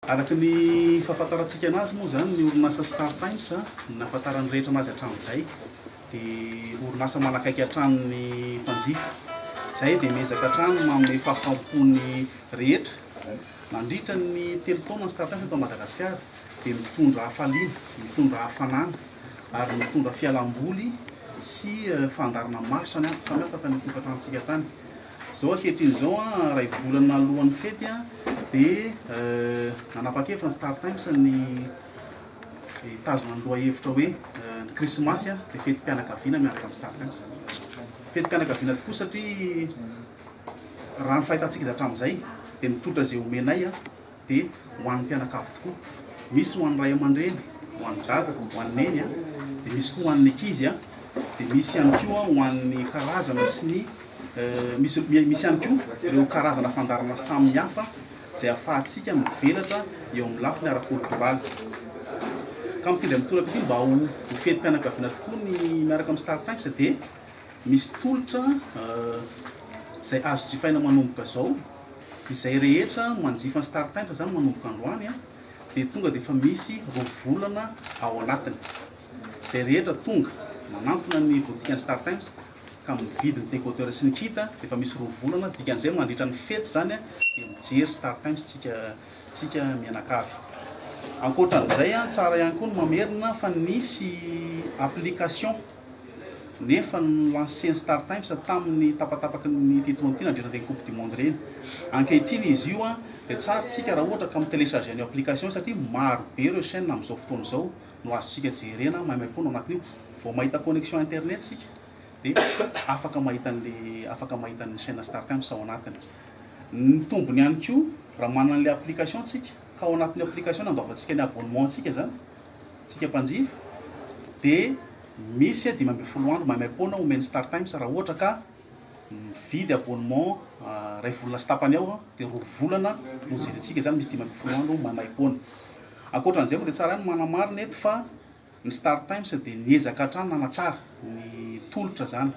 Araka ny fahafantarantsika anazy moa izany, ny orinasa Star Times, ny nahafantaran'ny rehetra anazy hatramin'izay, dia orinasa manakaiky hatrany ny mpanjifa. Izahay dia miezaka hatrany ny manome fahafaham-po ny rehetra. Nandritra ny telo taona ny Star Times eto Madagasikara, dia mitondra hafaliana, mitondra hafanana ary mitondra fialam-boly sy fandaharana maro samihafa tany an-tokantranontsika tany. Izao ankehitriny izao, iray volana alohan'ny fety dia nanapa-kevitra ny Star Times ny hitazona ny lohahevitra hoe ny Krismasy dia fetim-pianakaviana miaraka amin'ny Star Times. Fetim-pianakaviana tokoa satria raha ny fahitantsika izy hatramin'izay dia mitolotra izay omenay. dia ho an'ny mpianakavy tokoa. Misy ho an'ny ray aman-dreny, ho an'i dada, ho an'i neny, dia misy koa ho an'ny ankizy, dia misy ihany koa ho an'ny karazana sy ny misy misy ihany koa ireo karazana fandaharana samihafa izay ahafahantsika mivelatra eo amin'ny lafiny ara-koltoraly. Ka mitendry amin'ny toraka ity mba ho ho fetim-pianakaviana tokoa ny miaraka amin'ny Star Times dia Misy tolotra izay azo jifaina manomboka izao, izay rehetra manjifa ny startpainter izany manomboka androany dia tonga dia efa misy roa volana ao anatiny. Izay rehetra tonga manantona ny botikan'ny startimes ka mividy ny decoder sy ny kit dia efa misy roa volana, dikan'izay mandritra ny fety izany dia mijery startimes tsika. tsika mianakavy. Ankoatran'izay an, tsara ihany koa ny mamerina fa nisy application nefa no-lancer-n'ny Startimes tamin'ny tapatapaky ny Titohan'ny ty nandritra ireny coupe du monde ireny. Ankehitriny izy io an, dia tsara tsika raha ohatra ka mi-telecharger an'io application io satria maro be ireo chaine amin'izao fotoana izao no azontsika jerena maimaimpoana ao anatin'io. Vao mahita connexion internet tsika dia afaka mahita an'le afaka mahita ny chaine Startimes ao anatiny. Mitombona ihany koa raha manana an'ilay application tsika ka ao anatin'io application no andoavantsika ny abonnement antsika zany tsika mpanjifa de misy dimy ambin'ny folo andro maimaim-poana omen'ny star times raha ohatra ka mividy abonnement iray volana sy tapany eo de roa volana no jerentsika zany misy dimy ambin'ny folo andro maimaim-poana ankoatran'izay moa de tsara ihany manamarina eto fa Ny Star Times dia niezaka hatrany nanatsara ny tolotra izany.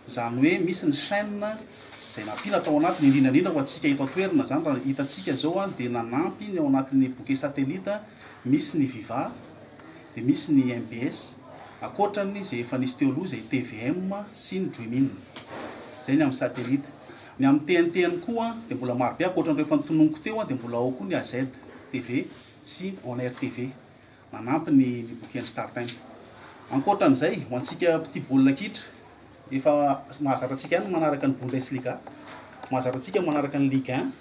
Izany hoe misy ny chaîne izay nampila tao anatiny, indrindra indrindra ho antsika eto an-toerana izany raha ny hitantsika izao dia nanampy ny ao anatin'ny bouquet satellite misy ny Viva dia misy ny mbs ankoatran'ny izay efa nisy teo aloha izay tvm sy ny Dream-in. Izay ny amin'ny satellite. Ny amin'ny TNT ihany koa dia mbola marobe ankoatran'ireo efa notononiko teo dia mbola ao koa ny AZ TV sy On Air TV. Manampy ny ny boky an'ny Star Times. Ankoatra an'izay, ho antsika mpitia baolina kitra, efa mahazatra antsika ihany ny manaraka ny Bundesliga, mahazatra antsika ny manaraka ny Ligue un,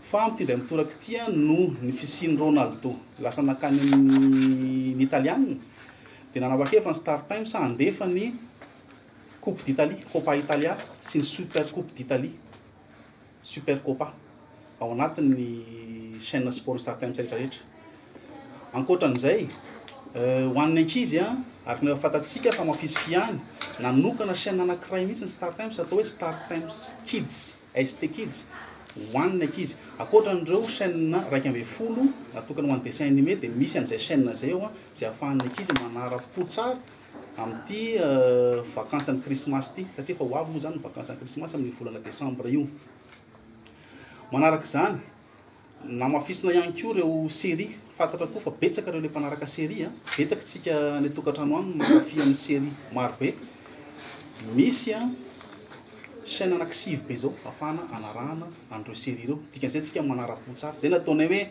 fa amin'ity indray mitoraka ity, noho ny fisian'i Ronaldo lasa nankany amin'ny Italiana, dia nanapa-kevitra ny Star Times handefa ny Coupe d'Italie, Coppa Italia, sy ny Super Coupe d'Italie. Supercopa ao anatin'ny chaîne Sport StarTimes rehetra rehetra. Ankoatran'izay, ho an'ny ankizy araka ny efa fantatsika fa mafisify ihany, nanokana chaîne anankiray mihitsy ny StarTimes atao hoe StarTimes Kids, ST Kids, ho an'ny ankizy. Ankoatran'ireo chaîne iraika ambin'ny folo natokana ho an'ny dessin animé dia misy an'izay chaîne izay ao izay ahafahan'ny ankizy manara-po tsara. amin'ity vakansan'ny krismasy ity, satria efa ho avy moa izany ny vakansan'ny krismasy amin'io volana desambra io. Manaraka izany, namafisina ihany koa ireo série, fantatra koa fa betsaka ireo ilay mpanaraka série, betsaka tsika any an-tokantrano any mankafy amin'ny série marobe. Misy chaîne anaky sivy be izao afahana anarahana an'ireo série ireo, dikan'izay tsika manara-po tsara, izay nataonay hoe,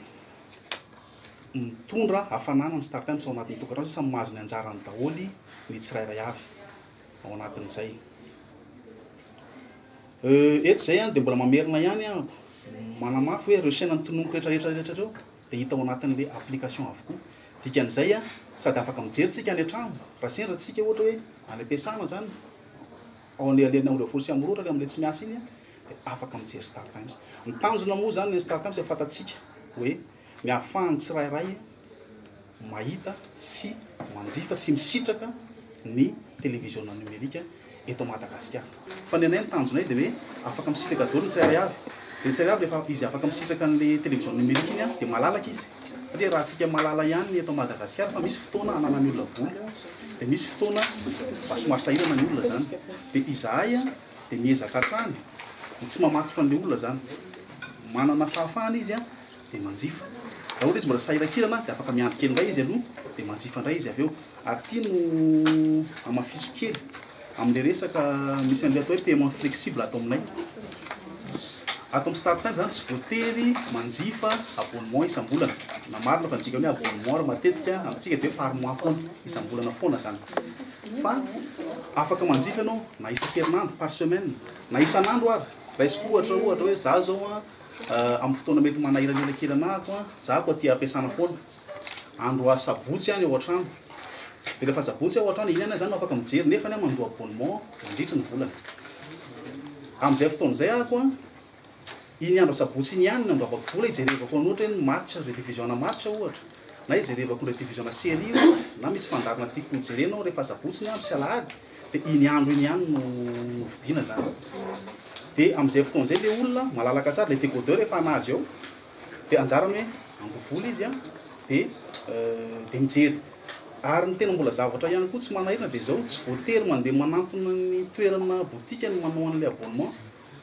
Mitondra hafanana ny Star Times ao anatin'ny tokantrano satria samy mahazo ny anjarany daholo ny tsirairay avy ao anatin'izay. Euh, eto izay dia mbola mamerina ihany aho manamafy hoe ireo chaîne notononiko rehetra rehetra rehetra ireo dia hita ao anatin'ilay application avokoa. Dikan'izay sady afaka mijery tsika any an-trano raha sendra tsika ohatra hoe any am-piasana izany, ao anelanelan'ny Ambohidratrimo folo sy Ambohiroa ohatra amin'ilay tsy miasa iny dia afaka mijery Star Times. Ny tanjona moa izany ny Star Times efa fantatsika hoe. ny ahafahan'ny tsirairay mahita sy manjifa sy misitraka ny televiziona nomerika eto Madagasikara. Fa ny anay ny tanjonay dia hoe afaka misitraka daholo ny tsirairay avy. Dia ny tsirairay avy rehefa izy afaka misitraka an'ilay televiziona nomerika iny dia malalaka izy. Satria raha antsika malala ihany ny eto Madagasikara fa misy fotoana ananan'ny olona vola dia misy fotoana mba somary sahirana ny olona izany. Dia izahay dia miezaka hatrany ny tsy mamatotra an'ilay olona izany. Manana fahafahana izy dia manjifa. Raha ohatra izy mbola tsy sahiran-kirana dia afaka miandry kely indray izy aloha dia manjifa indray izy avy eo. Ary ity no hamafiso kely amin'ilay resaka misy an'ilay atao hoe paiement flexible ato aminay. Ato amin'ny Star Times izany tsy voatery manjifa abonnement isam-bolana. Na marina fa ny dikan'ny hoe abonnement ary matetika amintsika dia hoe par mois foana, isam-bolana foana izany. Fa afaka manjifa ianao na isan-kerinandro, par semaine, na isan'andro ary. Raisiko ohatra, ohatra hoe izaho izao an, Amin'ny fotoana mety manahirana elakelanà ako an, za ako aty am-piasana foana. Andro a sabotsy any ao an-trano. Dia rehefa sabotsy aho ao an-trano, iny ihany aho izany no afaka mijery, nefany aho mandoa abonnement mandritry ny volana. Amin'izay fotoana izay ako an, iny andro a sabotsy iny ihany no andoavako vola hijerevako an'ny ohatra hoe ny match rediffusion-na match ohatra, na hijerevako ny rediffusion-na série ohatra, na misy fandaharana tiako hojerena aho rehefa sabotsy ny andro sy alahady. dia iny andro iny ihany no hovidiana izany, dia amin'izay fotoana izay ilay olona malalaka tsara, ilay décodeur efa anà azy eo, dia anjarany hoe handoa vola izy an, dia dia mijery. Ary ny tena mbola zavatra ihany koa tsy manahirana dia izao, tsy voatery mandeha manantona ny toerana botika ny manao an'ilay abonnement,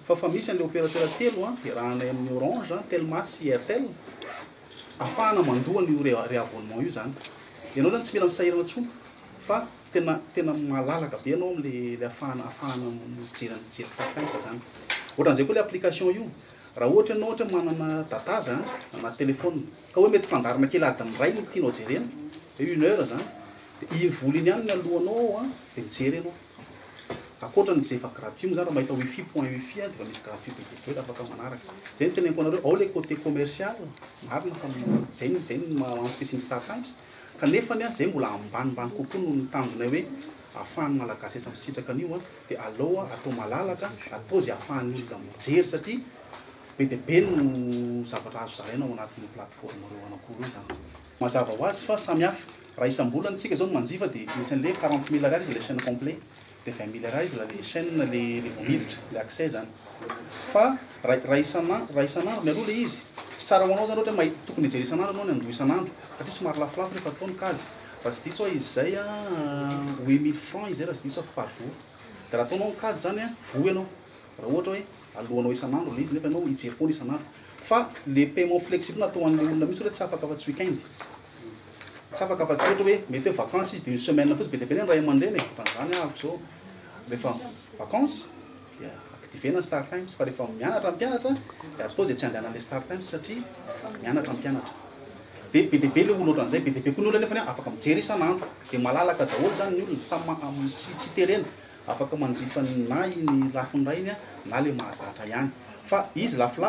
fa efa misy an'ilay opérateur telo an, iarahanay amin'ny Orange an, Telma sy Airtel, ahafahana mandoa an'io ré-abonnement io izany. Ianao izany tsy mila misahirana intsony fa. Tena tena malalaka be ianao amle le afahana afahana mijery mijery startimes zany. Otran'izay koa le application io raha ohatra ianao ohatra hoe manana data za anaty telephone ka hoe mety fandaharana kely adiny iray no tianao jerena hoe une heure zany de iny vola iny ihany no alohanao ao a de mijery ianao. Ankoatra ny ze efa gratuit moa zany raha mahita wifi point wifi a de efa misy gratuit be dia be de afaka manaraka. Zay no teneniko anareo ao le cote commercial marina fa zay no zay no maha antoky sy ny startimes. Kanefa ny ahy izay mbola ambanimbany kokoa noho ny tanjonay hoe afahan'ny Malagasy eto misitraka an'io dia aleo atao malalaka, atao izay afahan'ny olona mijery satria be dia be no zavatra azo zaraina ao anatin'io plateforme roa anankiroa io izany. Mazava ho azy fa samy hafa. Raha isam-bolana isika izao no manjifa dia anisan'ilay hoe quarante mille ariary izy ilay chaine complet. Dia avy amin'ny Miller izy ilay chaîne ilay vao miditra, ilay accès izany. Fa raha raha isan'andro raha isan'andro mialoha ilay izy, tsy tsara ho anao izany ohatra hoe mahita tokony hijery isan'andro ianao ny an'doha isan'andro satria somary lafolafo ilay palitao ny kajy. Raha tsy diso aho izy izay an, hoe mille francs izy izay raha tsy diso aho par jour. Dia raha ataonao ny kajy izany an, voa ianao, raha ohatra hoe aloanao isan'andro ilay izy nefa ianao hijery foana isan'andro. Fa ilay paiement flexible atao ho an'ilay olona mihitsy ohatra hoe tsy afaka afa-tsy week-end. Tsy afaka afa-tsy ohatra hoe mety hoe vacances izy dia une semaine fotsiny. Be dia be ny ray aman-dreny e, ohatran'izany ahako izao rehefa vacances dia activer-na ny star times fa rehefa mianatra ny mpianatra dia atao izay tsy handehanan'ilay star times satria mianatra ny mpianatra. Dia be dia be ilay olona ohatran'izay, be dia be koa ny olona nefa afaka mijery isan'andro. Dia malalaka daholo izany ny olona, samy ma- tsy tsy terena, afaka manjifa na iny lafiny raha iny na ilay mahazatra ihany. Fa izy lafolafo.